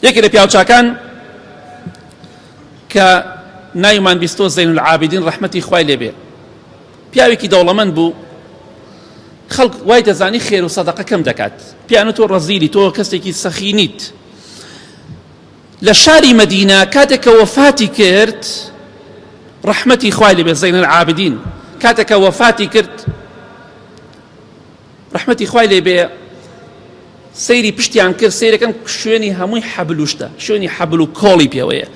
یەکێک لە پیاوچاکان کە ناوی مانگیستۆ زەین العابدین ڕەحمەتی خوای لێبێ پیاوێکی دەوڵەمەند بوو خەڵک وای دەزانی خێر و سەدەقە کەم دەکات پیانە تۆ ڕەزیلی تۆ کەسێکی سەخی نیت لە شاری مەدینە کاتێک کە وەفاتی کرد ڕەحمەتی خوای لێبێ زەین العابدین کاتێک کە وەفاتی کرد ڕەحمەتی خوای لێ بێ سەیری پشتیان کرد سەیرەکەم شوێنی هەمووی حەبل و شتە شوێنی حەبل و کۆڵی پێوەیە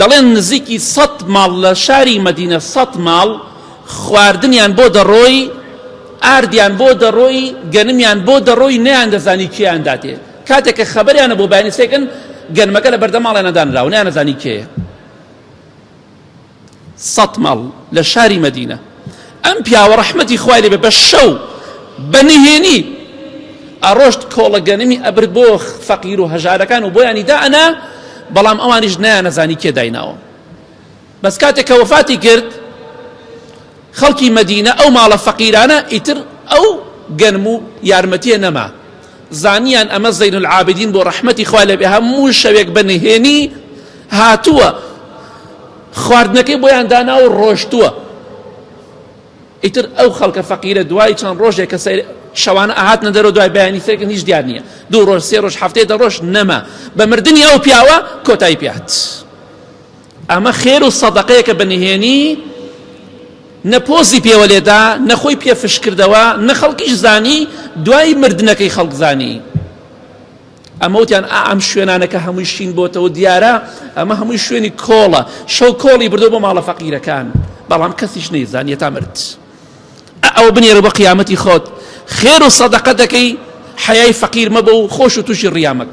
دەڵێن نزیکی سەد ماڵ لە شاری مەدینە سەد ماڵ خواردنیان بۆ دەڕۆی ئاردیان بۆ دەڕۆی گەنمیان بۆ دەڕۆی نیان دەزانی کێیان داتێ کاتێک کە خەبەریانە بۆ بەیانیسێکن گەنمەکە لە بەردەماڵێنە دانراوە نیان نەزانی کێیە سەت ماڵ لە شاری مەدینە ئەم پیاوە ڕەحمەتی خوای لێ بە شەو بە نهێنی ئەڕۆشت کۆڵە گەنمی ئەبرد بۆ فەقیر و هەژارەکان و بۆیانی دا ئەنا بەڵام ئەوانیش نایانەزانی کێ دایناوە بەس کاتێک کە وەفاتی کرد خەڵکی مەدینە ئەو ماڵە فەقیرانە ئیتر ئەو گەنم و یارمەتیە نەما زانیان ئەمە زین العابدین بۆ ڕەحمەتی خوا لەبێ هەموو شەوێک بە نهێنی هاتووە خواردنەکەی بۆیان دانا و ڕۆشتووە ئیتر ئەو خەڵکە فەقیرە دوای چەند ڕۆژێک کە سەیر شەوانە ئاهات نەدەرەوە دوای بەیانی سێکن هیچ دیار نییە دوو ڕۆژ سێ ڕۆژ هەفتەیە دە ڕۆژ نەما بە مردنی ئەو پیاوە کۆتایی پێات. ئەمە خێر و سەدەقەیەکە بە نهێنی نە پۆزی پێوە لێدا نە خۆی پێ فش کردەوە نە خەڵکیش زانی دوای مردنەکەی خەڵک زانی ئەمەوتیان ئەم شوێنانەکە هەمووی شین بۆتەوە دیارە ئەمە هەمووی شوێنی کۆڵە شەو کۆڵی بردو بۆ ماڵە فەقیرەکان بەڵام کەسیش نەیزانیە تا مرد ئەو بنێرە بە قیامەتی خۆت خێر و سەدەقە دەکەی حەیای فەقیر مەبە و خۆش و تووشی ڕیامەک